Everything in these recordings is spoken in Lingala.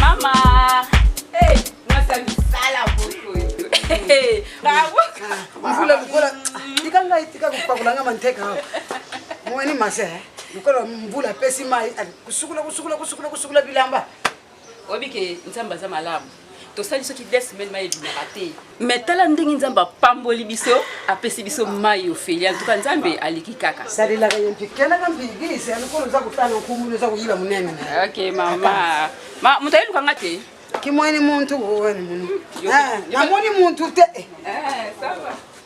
Mama, hey, mwasi ya misala boko. Hey, bravo. mvula lokola tika ngai tika kopakola nga manteka awa omoni mase eh? lokola mvula apesi mai kusukula kusukula kusukula kusukula bilamba Oyebi ke Nzambe aza malamu. tosali soki de semaine mai ebimaka te me tala ndenge nzambe apamboli biso apesi biso mai ofeli antuka nzambe aliki kaka salelaka ye mpe kelaka mbigisi alikolo oza kotala nkumulu oza koyiba monene ok mama ma moto ayeluka nga te kimwani muntu wani munu namoni muntu te eh, eh,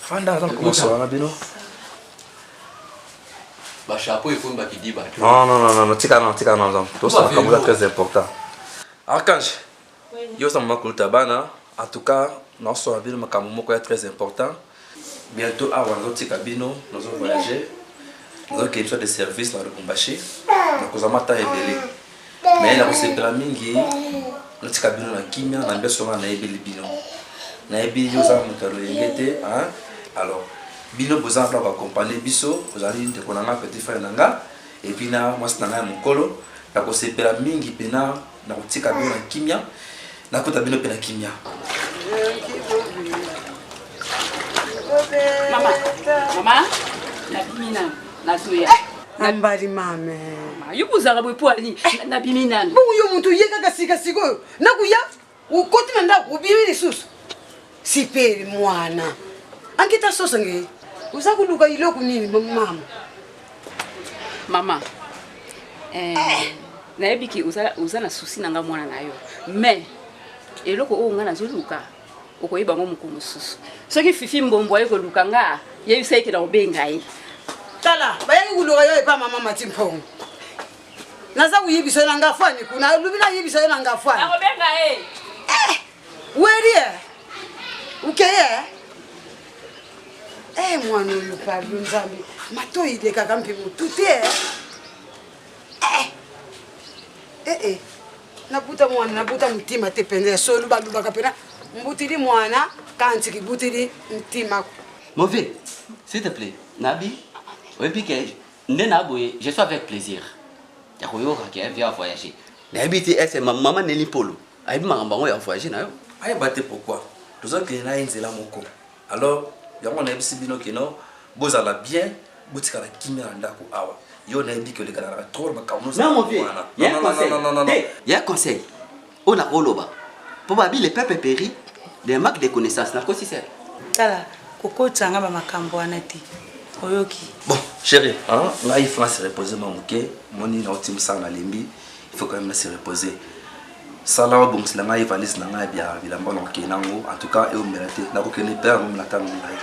fanda aza kokosa na bino bashapo ekomi bakidiba non non non non tika non tika non tosala makambo eza très important archange yo oza mama kuluta bana en tout cas naosala bino makambo moko ya très important bientôt awa nazotika bino nazo voyage nazokende soit de service na lubumbashi nakozama ata ebele mais nakosepela mingi natika bino na kimia na mbeso wana nayebeli bino nayebi yo oza moto ya loyenge te alors bino boza na bakompanie biso ozali ndeko na ngai petit frère na ngai epuis na mwasi na ngai ya mokolo nakosepela mingi mpena nakotika bino na kimia nakota bino mpe na kimia mama mama nabimi na nazoya eh! ambali mame yo kozala boye mpo ani nabimi nani bongo yo moto oye kaka sika sikoyo nakoya okoti na ndako obimi lisusu sipeli mwana ankita soso nge oza koluka iloko nini mama mama eh, eh. nayebi ke oza, oza na susi na nga mwana na yo mais eloko oyo nga nazoluka okoyeba yango mokolo mosusu soki fifi mbombo aye koluka nga yebisa ye ke nakobenga ye tala bayaki koluka yo epa mama mati mpongo naza koyebisa yo na nga fani kuna alobi nayebisa yo na nga fani nakobenga ye eh! Weri eh ukeye eh, eh mwana oyo pardon nzambe matoi elekaka mpe motu te eh. eh, eh, eh. nabuta mwana nabuta motima te mpenza ya solo balobaka mpena mbutili mwana kanti kibutili ntima mauvais s'il te plaît nabi oyebi ke nde na boye je suis avec plaisir ya koyoka ke via voyager nayebi te ese mama neli mpolo ayebi makambo yango ya voyage na yo ayeba te pourquoi tozokende na ye nzela moko alors yango nayebisi bino kino bozala bien botikala kimia na ndako awa yo nayebi ke olekanaka trop makambo ya conseil oyo nakoloba mpo babi le peuple péri de manque de connaissance nakosi sel tala kokotisa nga bamakambo wana te oyoki bon chéri ngai france repose mwa moke moni nauti mosala nalembi il faut quand même se reposer sala obongisela ngai valise na ngai bya bilamba na okei nango en tout cas eomela te nakokende mpe yango na ntango ngai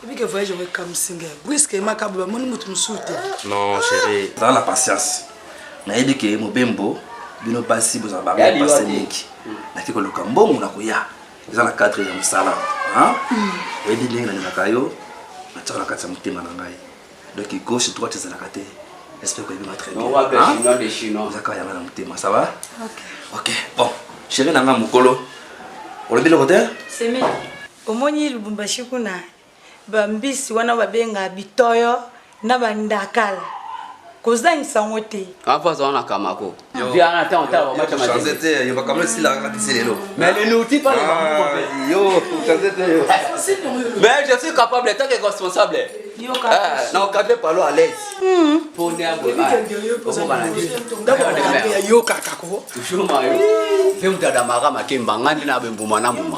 ebike hmm. voyage yango ekamwisi ngai briske makabo bamoni moto mosusu te non chéri zala na patience nayebi ke mobembo bino basi bozala bango basi mingi nake koluka mbongo na koya eza na cadre ya mosala hmm. oyebi ndenge nalingaka yo natyaka na kati ya motema na ngai Donc gauche droite ezalaka te. J'espère que vous très bien. On va faire chinois des chinois. Vous avez un thème, ça va Ok. Ok. Bon, chérie nanga mukolo. Olobi le côté Semi. Omoni Lubumbashi kuna ba mbisi wana babenga bitoyo na bandakala kozangisa yango te. Kapa aza wana kamako. Mais je suis capable, tant que responsable. nakokate palo aleseyokaka ko mpe moto adamaka makemba ngai nde na bembuma na mbuma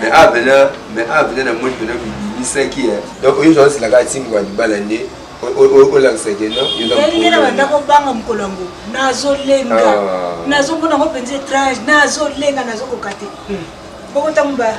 mais awa pena mais awa pena na moni pena bibimisaki ye donc oyo ozwa silaka atimboka libala nde olakisaki noalingela banda kobanga mokolo yango nazolenga ah. nazomona yango mpenza étrange nazolenga nazokoka te boko ntango ba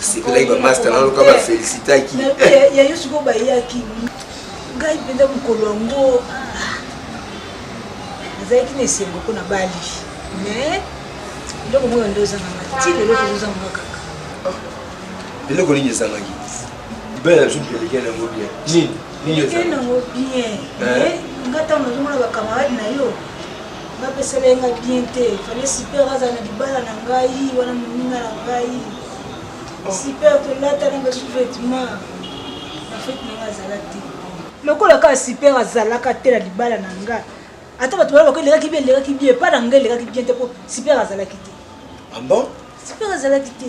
sepelaki bamasta na loka bafelisitaki ya yo sikoyo bayaki ngai mpenza mokolo yango ah, nazalaki na esengo mpo na bali mais eloko moko nde ozangaka ti lelo tozozangaka kaka eloko nini ezangaki libala na biso mpelekei nango bien nini nini ezango bien eh? nga ntango nazomona bakamarade na yo bapesela ye ngai bien te fale super azala na libala na ngai wana moninga na ngai super tolatana basu vetement na fete na ngai azala te lokola kaka super azalaka te na libala na ngai ata bato bana bako elekaki bien elekaki bien epa na ngai elekaki bien te mpo super azalaki te ah bon super azalaki te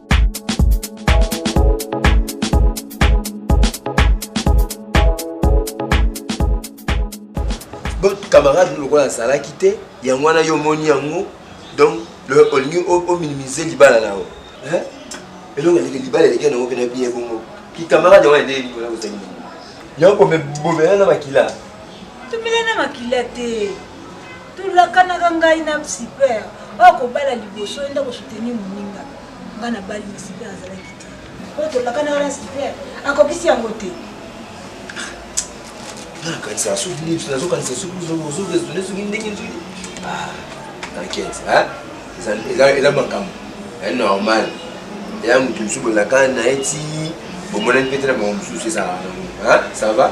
camarade lokola azalaki te yango wana yo omoni yango donc olingi ominimize libala na yo elongo eleke libala eleke nango mpena biye bongo kikamarade yango ende likolo kozali yango komebobela na makila tobela na makila te tolakanaka ngai na super oyo kobala liboso enda kosoutenir moninga ngai nabali na super azalaki te oyo tolakanaka na super akokisi yango te nakanisa soki nini nazokanisa soki ozoresone soki ndenge soki nakete eza makambo ya normal ya moto mosusu bozalaka na ye ti bomonani mpe te na bango mosusu ezalaka nango ça va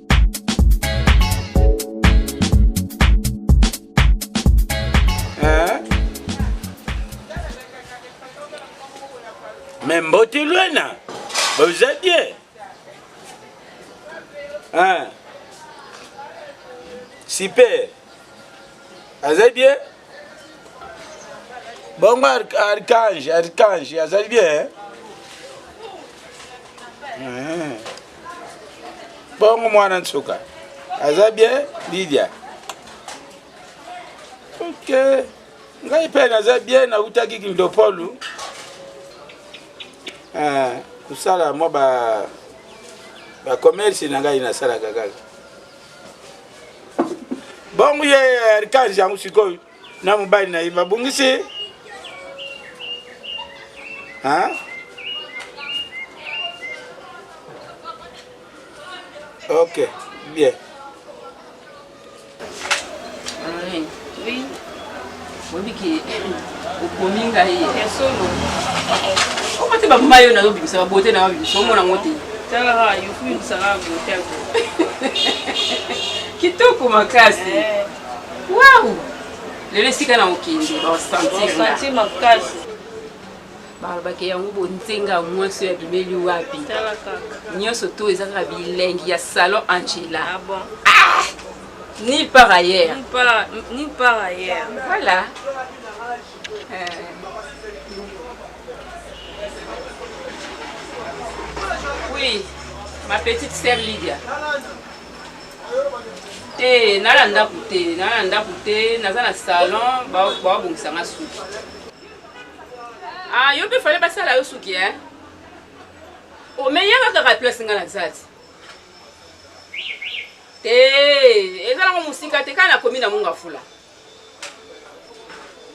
me mbote lwena boza bien super aza bien Bongo archange, archange, azali bien. Hein? Bongo mwana nsuka. Aza bien Lydia. Okay. ngai mpe naza bien nautaki kindopolu ah, kosala mwa ba bacommerce na ngai nasalaka kaka bongo ye arkange yango sikoyo na mobali na ye babungisi ok bien oui. Oyebi ke okomi ngai ya solo. Omo te baboma yo nayo bimisa ba beauté nayo bimisa omona ngo te. Tala ha yo fui msala beauté ko. Kitoko makasi. Eh. Wow. Lelo esika na okende ba sentir. Ba sentir makasi. balobaki yango bonzenga mwasi oyo abimeli wapi nyonso to eza kaka bilengi ya salon angela ah, ah! Ni par ailleurs. Ni par, ni par ailleurs. Voilà. Euh... Oui, ma petite sœur Lydia. te nala ndako te nala ndako te naza na salon babongisa nga suki ah, yo mpe fale basala yo suki e omeyaka kaka place nga na zati te eza nango mosika te kaka nakomi na munga fula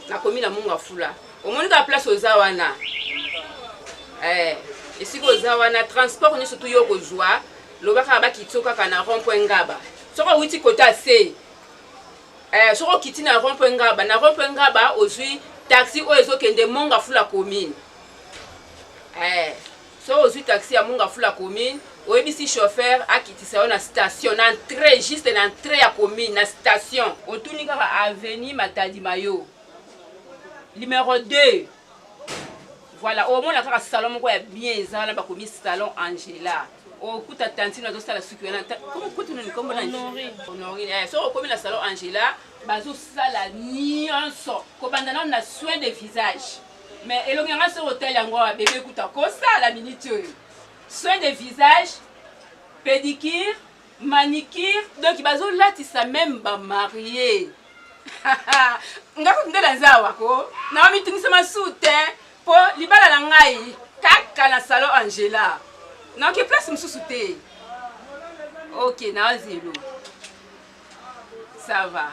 nakomi na munga fula omoni kaka place oza wana eh, esika oza wana transport nyonso tu yo okozwa loba kaka bakitio kaka na rond point ngaba soki owiti kota se eh, soki okiti na rond point ngaba na rond point ngaba ozwi taxi oyo ezokende monga fula commune eh. Soki ozui taxi ya Mungafula commune, oyebisi chauffeur akitisa yo na station, na entree, juste na entree ya commune, na station. Otuni kaka avenue Matadi Mayo, numero 2. Voilà, omona kaka salon moko ya bien eza wana bakomi salon Angela. Okuta tantine azosala suki wana, kutu nini kombo na Honorine. Eh, soki okomi na salon Angela, bazosala nyonso kobanda nano na soin de visage. Mais elongi yanga soki otali yango awa bebe kutu akosala minute oyo soin de visage pédicure manicure donc bazolatisa meme bamarie nga kutu nde naza awa ko nanga mitungisa masusu te mpo libala na ngai kaka na salon angela naoke place mosusu te ok naozi elongi ça va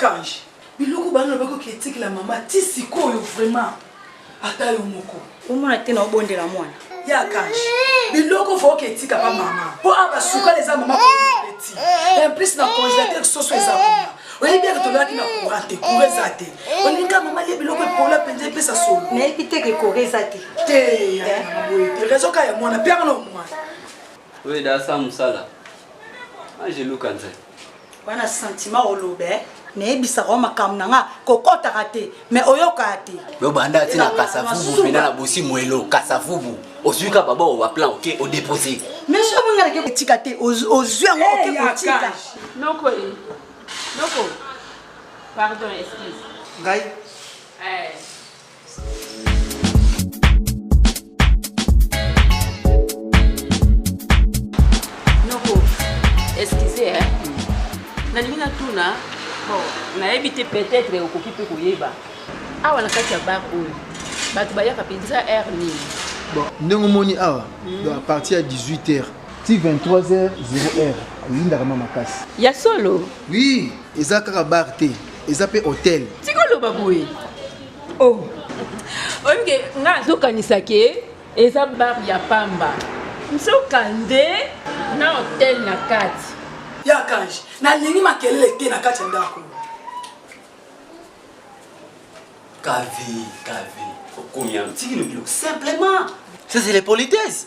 archange biloko bana na bakoki etikela mama ti sikoyo vraiment ata yo moko omona te na obondela mwana ye archange biloko foki etika pa mama mpo a basukala eza mama peti implice na congélateur soso eza kuna oyebi eke tolaki na courant te courant eza te olinga mama ye biloko epola mpenza epesa solo nayebi te ke courant eza te te rezo ka ya mwana mpe yango mwana oyo edasa mosala angeluka nzai wana sentiment olobe nayebisaka o makambo na nga kokɔtaka te me oyokaka te lobanda ti na kasavubu mpena na bosi mwelo kasavubu ozwi ka baba owa plan oke odepose mais soki nga nake kotika te ozwi yango eh, oke kotika noko e noko pardon excuse ngai eh. nalingi natuna bon nayebi te peut-être okoki mpe koyeba awa na kati ya bar oyo bato bayaka mpenza aire nini bon ndenge omoni awa hmm. donc à partir ya 18 heures ti 23 heures 0 heure eyindaka ma makasi ya solo oui eza kaka bar te eza mpe hôtel tikoloba boye oh oyebi ke nga azokanisa ke eza bar ya pamba nzoka nde na hotel na kati ya kange nalingi makelele te na kati ya ndako kavi kavi okomi yango tikilobilo simplement ça c'est les politesse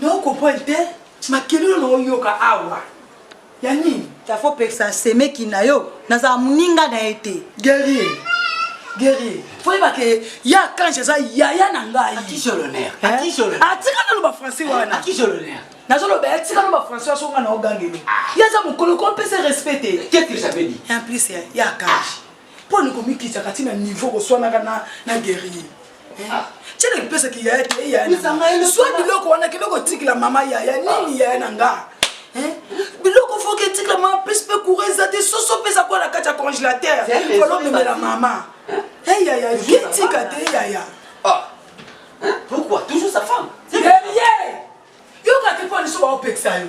nao comprendre te makelelo na oyoka awa ya nini tafo pekisa semeki na yo nazala moninga na ye te guerrier guerrier fo yeba ke ya kange eza yaya na ngai atika naloba français wana nazoloba ye atika naloba français asonga na ogangeli ye aza mokolo ko mpese respect te en plus ya kange mpo ni komikitaka ti na niveau koswanaka na, na guerrier cene lipesaki yaya te yayazwa biloko wana kende kotikila mama yaya nini yaya na nga biloko foki etikila mama pesi mpe coura eza te soso mpe eza kwa na kati ya congélateur olomemela mama eyaya etika te eyaya pourquoi toujours sa femme yeye yokaki mpo liso baopekisa yo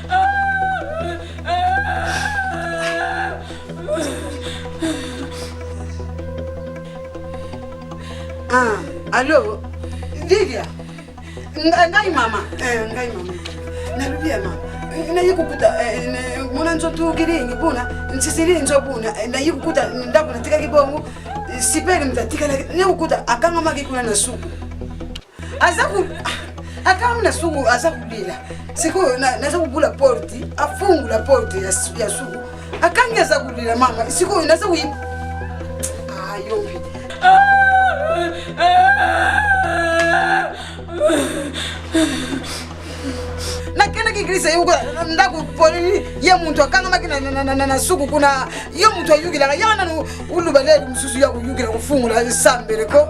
Ah, alo vilia ngai mama eh, ngai mama nalobi ya mama naye kokuta eh, mona nzo tukilingi buna nsisili nzo buna eh, naye kokuta ndako natikaki bongo sipele mtatikala naye kokuta akangamaki kuna na suku aza ku akanga na suku aza kolela sikoyo naza kobula porte afungula porte ya suku akangi aza kolela mama sikoyo naza koyi ayobi nakendaki eglise yoko ndako polini ye moto akangamaki na suku kuna ye moto ayukilaka yaka nanu uluba leli mosusu ya koyukila kofungula sambele ko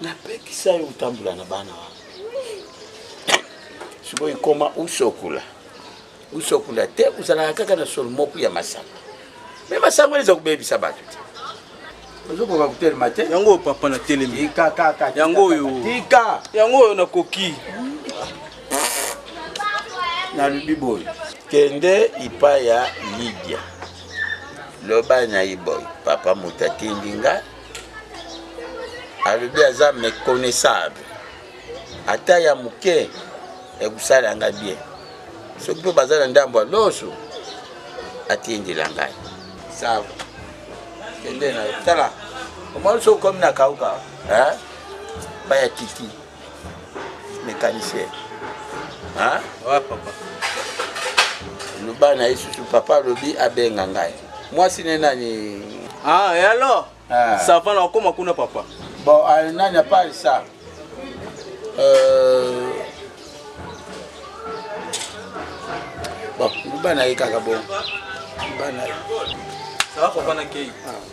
napekisa yo otambola na bana wana sikoyo ekoma usokola usokola te ozalaka kaka na solo moko ya masanga me masanga wana eza kobebisa bato te ozokoka kotelema te yango oyo papa na telemi yango oyo tika yango oyo nakoki nalobi boye kende ipa ya lidia loba na ye boy papa moto atindi nga alobi aza méconnaissable ata ya moke ekosala nga bien soki mpe baza na ndambo ya loso atindela ngai sava kende na yo tala omoni soki okomi na kauka baya tiki mécanicien hein? ouais, papa loba na ye susu papa alobi abenga ngai mwasi ne nani ah, et alors ah. sava na okoma kuna papa bon ah, nani apart ça euh... bon loba na ye kaka bon loba na ye sava papa na kei ah.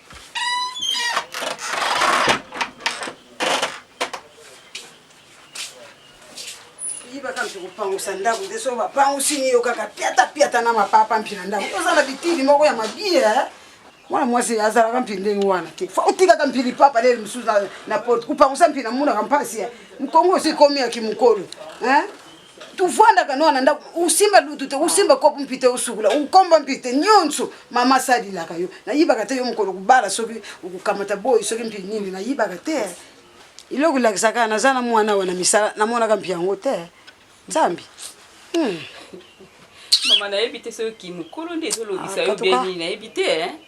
yibaka mpe kopangusa ndako te soki bapangusi ni yo kaka piata piata na mapapa mpi na ndako oza na bitili moko ya mabie eh? mwana mwasi azalaka mpi ndenge wana te fo otikaka mpi lipapa lele mosusu na porte kopangusa mpi namonaka mpasi eh? mkongo osi komi ya kimokolo eh? tufandaka noa na ndako usimba lutu te usimba kopo mpi te usukula ukomba mpi te nyonso mama asalilaka yo nayibaka te yo mokolo kubala soki okukamata boyi soki mpi nini nayibaka te iloko elakisaka naza na mwana awa na misala namonaka mpi yango te nzambi hmm. mama nayebi te soki mokolo nde ezolobisa ah, yo beni nayebi te eh?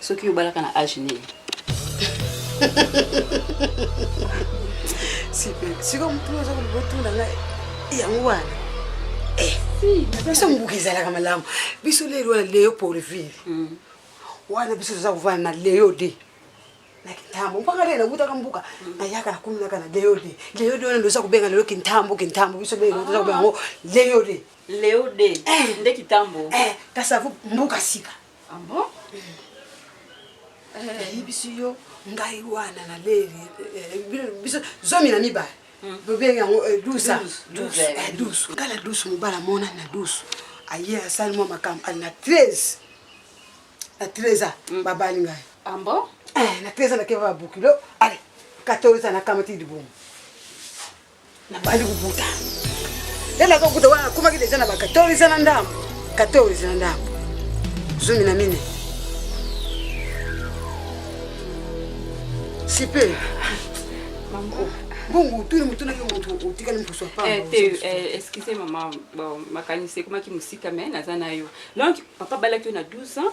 soki yo obalaka na age nini sikoyo motuna oza koloba otuna ngai yango wana eh, biso mobuka ezalaka malamu biso lelo wana leyo porville hmm. wana biso toza kovanda na leyo de na kintambo mpaka lelo nawutaka mbuka nayaka nakuminaka na leo de leo de wana ndoza kobenga lelo kintambo kintambo biso lelo toza kobenga yango leo de leo de eh. nde kitambo eh, kasi avo mbuka sika Ah bon? ayebisi eh, eh, yo ngai wana na leli eh, biso zomi na mibale hmm. bobengi yango dusa dusu ngai na dusu mobala mona na dusu aye asali mwa makambo ali na 13 na 13 a hmm. babali ngai ah na 13 a nakeba babukilo ale 14 a nakamati libumu nabandi kobuta nde naza kobuta wana nakomaki deja na ba 14 na ndambo 14 na ndambo zomi na mine sipe bongo otuni motunaki moto otikali mposo excuse mama makanisi ekomaki mosika mai naza na yo donc papa abalaki yo na 12 ans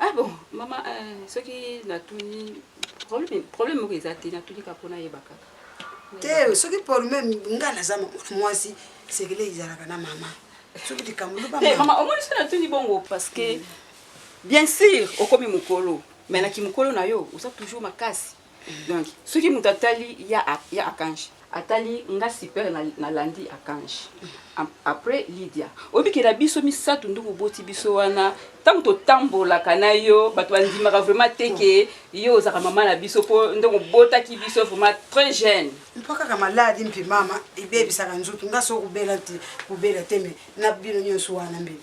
Ah bon, mama, eh, soki natuni problème problème moko eza te natuni kaka mpo nayeba kaka te soki problème ngai naza mwasi sekele ezalaka na mama soki likambo eh, mama omoni soki natuni bongo parce que bien sûr okomi mokolo mais na kimokolo na yo oza toujours makasi donc soki mutu atali ya ya akange atali nga super na, na landi akange après Lydia obikela biso misato nduku oboti biso wana ntango totambolaka na yo bato bandimaka vraiment te ke yo ozaka mama na biso mpo ndenge obotaki biso vraiment très jeune mpo kaka maladi mpe mama ebebisaka nzoto nga so kobela te kobela te me na bino nyonso wana mbele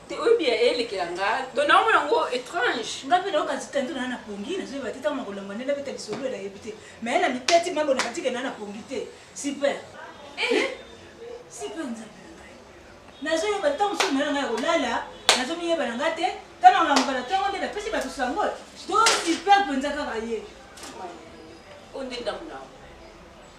te oyebi ya elekela nga donc naomona yango étrange nga mpe nayoka nzita nto naa na pongi nazoyeba te ntango makolamba nde nabeta lisolo ela yebi te mai na miteti mambo na katika naa na pongi te super eh! super nzambe na ngai nazoyeba ntango mosusu mai na ngai ya kolala nazomiyeba na nga te ntango nalamuka na ntongo nde napesi bato sango to super mpenza kaka ye oyo nde ndambo na yango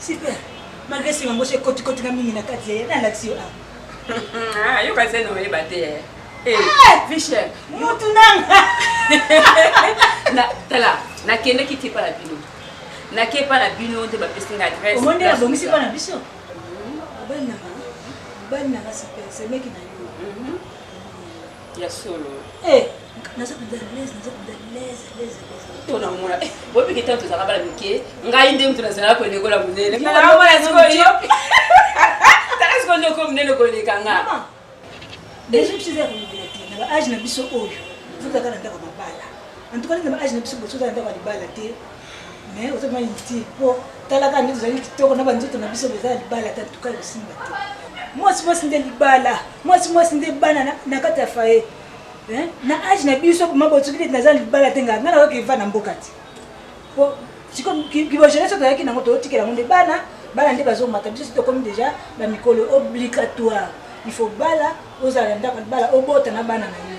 Super. Malgré si mango c'est koti koti na mingi na kati ya na laxio a. Ah, yo kasi no yeba te. Eh, eh, eh Fisher, mutu nanga. Na tala, na kende ki tipa la bino. Na ke pa la bino te ba pesi nga adresse. Omonde la bongi si pa na biso. Bana, bana ka super, c'est meki na yo. Mhm. Ya solo. Eh, naza kuda lez, naza kuda lez, lez, lez. To na mona. Eh, bobi kita to zaka bala mike. Ngai nde mtu nazala ko lekola munene. Na na mona siko yo. Taka siko ndo ko munene ko leka nga. Deja tu zaka ko bila te. Na age na biso oyo. Futa kana ndako mabala. En tout cas na age na biso boso za ndako libala te. mais oza mwa inutile mpo tala kaka nde tozali kitoko na banzoto na biso boza ya libala ata tuka ekosimba te mwasi mwasi nde libala mwasi mwasi nde bana na kati ya faye na age na biso mabotuki neti naza libala te ngai ngai nayoki eva na mboka te mpo siko kibojenese toyaki nango toyotikela yango nde bana bana nde bazomata biso si tokomi deja bamikolo obligatoire il faut bala ozala na ndako bala obota na bana na yo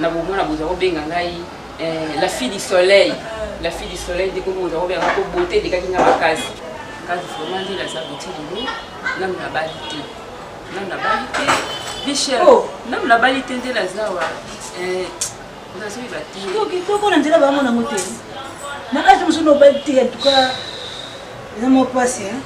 Na bomona boza ko benga ngai eh, la fille du soleil. La fille du soleil ndeko boza ko benga ko beauté de kakinga makasi. Kazi vraiment ndila za beauté de nous. Nam na bali te. Nam na bali te. Bichel. Oh. Nam na bali te ndela zawa. Eh, nazo yeba te. Toki toko na nzela bango na motema. Na kazi musuno bali te en tout cas. Eza mo pasi hein.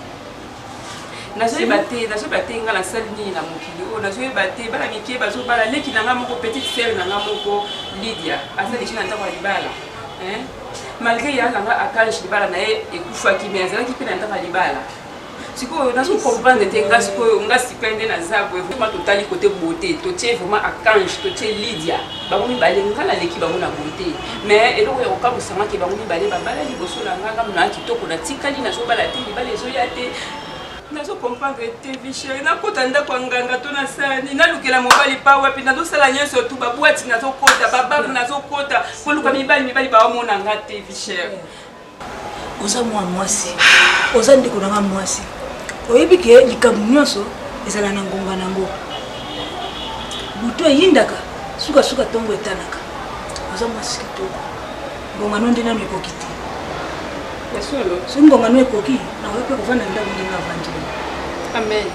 nazoyeba te nazoyeba te nga nasali nini na mokili oyo nazoyeba te bana mike bazobala leki na nga moko petite sere na nga moko lidia aza deja na ntango ya libala malgré ya na nga akange libala na ye ekufaki mai azalaki mpe na ntango ya libala sikoyo nazo comprendre te nga sikoyo nga sika nde naza boye vraiment totali kote bote totie vraiment akange totie lidia bango mibale nga naleki bango na bote mais eloko ya kokamwisa nga ke bango mibale babala liboso na nga nga mona kitoko natikali nazobala te libala ezoya te nazo comprendre te vichere nakota ndako ya nganga to na sani nalukela mobali pa wapi nazosala nyonso tu babwati nazokota bababu nazokota koluka mibali mibali bawamona nga te vichere oza mwa mwasi oza ndeko na nga mwasi oyebi ke likambo nyonso ezala na ngonga na yango butu eyindaka sukasuka ntongo etanaka oza mwasi kitoko ngongano nde nano ekoki te soki ngongano ekoki nakoki mpe kovanda ndako ndenge avandeli amen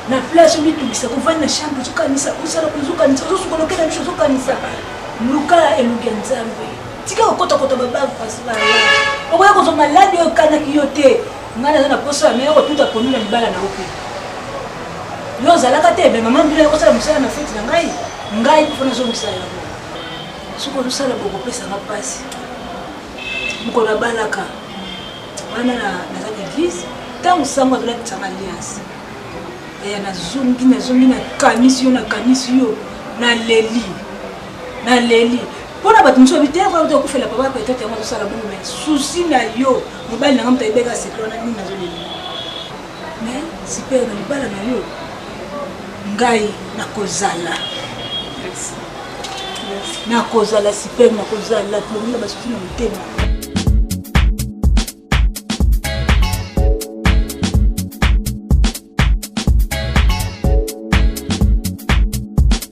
na place omitungisa kovanda na chambre ozokanisa ozala kozokanisa ozosukolokela biso ozokanisa luka elongi ya nzambe tika kokotakota babangu pasi bala okoya kozwa maladi oyo okanaki yo te ngai naza na poso ya mea kotuta ponu na libala na yo mpe yo ozalaka te me mama mbila yakosala mosala na feti na ngai ngai kufa nazongisa yango soki ozosala bokopesanga mpasi mokolo abalaka wana naza na eglise ntango sango azolatisanga alliance eya nazongi nazongi nakanisi yo nakanisi yo naleli naleli mpona bato mosusu babite oyo to okufela papa peut-être yango tosala bongo mais souci na yo mobali na nga moto ayebeka sekle wana nini nazolela mais super na libala na yo ngai nakozala nakozala super nakozala tolongi na basusu na motema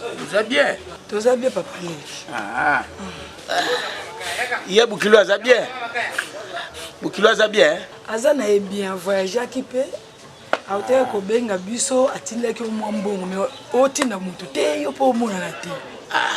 Oza bien? Toza bien papa Leki. Ah. Ye Bukilo aza bien? Bukilo aza bien? Aza na ye bien, voyageaki mpe autaki kobenga biso atindaki yo mwa mbongo me otinda motu te yo mpe omonana te. Ah.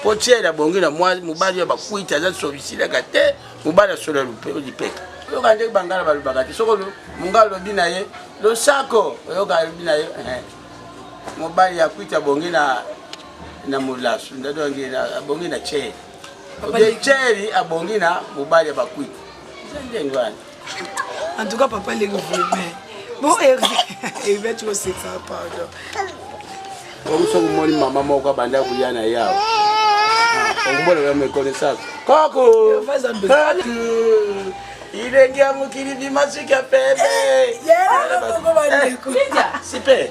mpo tiele abongi na mwa mobali ya bakwiti aza solisilaka te mobali asola lipeka oyoka ndenge bangala balobaka te soko monga alobi na ye losako oyoka alobi na ye eh, mobali ya kwiti abongi na na molasu ndadongi abongi na tiele oye tiele abongi na mobali ya bakwiti eza ndenge wana En tout cas, papa, il est mais Bon, Hervé, Hervé, tu vois, c'est ça, pardon. Comme ça, moi, maman, moi, quand banda kouyana ya. Okumbola ya me connaissance. Koko. Ilenge ya mokili bimasuki ya pembe. Yela, koko bandeko. Sipe.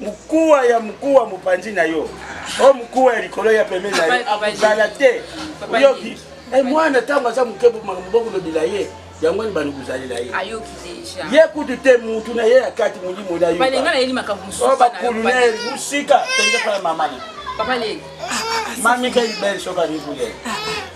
mokuwa ya mokuwa mopanzi na yo o mokuwa ya likolo ya pembeni na yo akozala te oyoki eh, mwana ntango aza moke makambo bokolobela ye yango nini bani kozalela ye ye kutu te mutu na ye ya kati molimo na yo bakulu na ye mosika tenge pala mamani mamika ibel soka mikule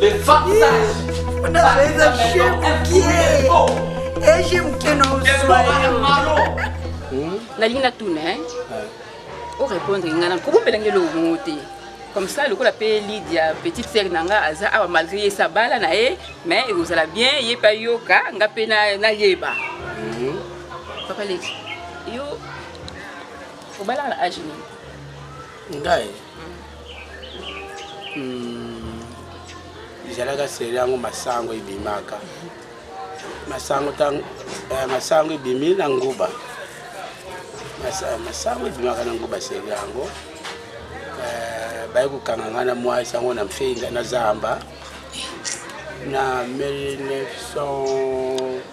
Le façage. On a fait un chien bouquet. Et j'ai bouquet non nalingi natuna orépondre ngai na kobombela ngai eloko moko te comme ça lokola mpe lidia petite sere na ngai aza awa malgré ye sabala na ye mais ekozala bien ye mpe ayoka ngai mpe nayeba mhm. papa leki yo obalaka na age nini ngai Hmm. ezalaka seri yango masango ebimaka masango eh, masango ebimi na nguba masango ebimaka na nguba seri yango eh, baye kokanga ngai na mwasi yango na mfeinga na zamba na 1900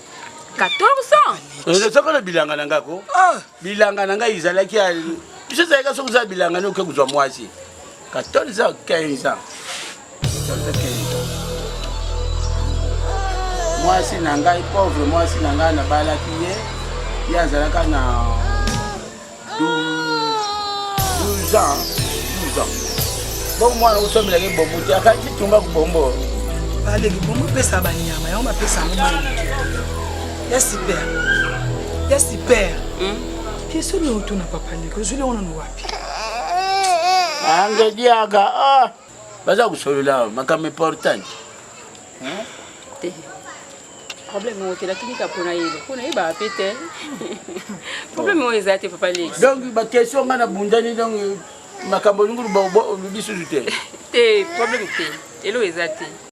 14 ans eh, nazalaka na bilanga na ngai ko ah. bilanga na ngai ezalaki biso ezalaka soki ozala bilanga nde oke kozwa mwasi 14 ans 15 ans mwasi na ngai pauvre mwasi na ngai nabalaki ye ye azalaka na 12 ans 12 ans bongo mwana osombelaki bombo te akaki tumba kubombo baleki bombo pesa banyama yango bapesa yango mwana ya super ya super question nini otuna papa ndeko ozwili yango nano wapi angediaka ah, baza kosolola makambo importante te problème oyo okendaki nika mpona yeba mpona yebaka mpe te problème oyo eza te papa leki donc baquestion ngai na bundani donc makambo olingi oluba olubi susu te te problème te elo eza te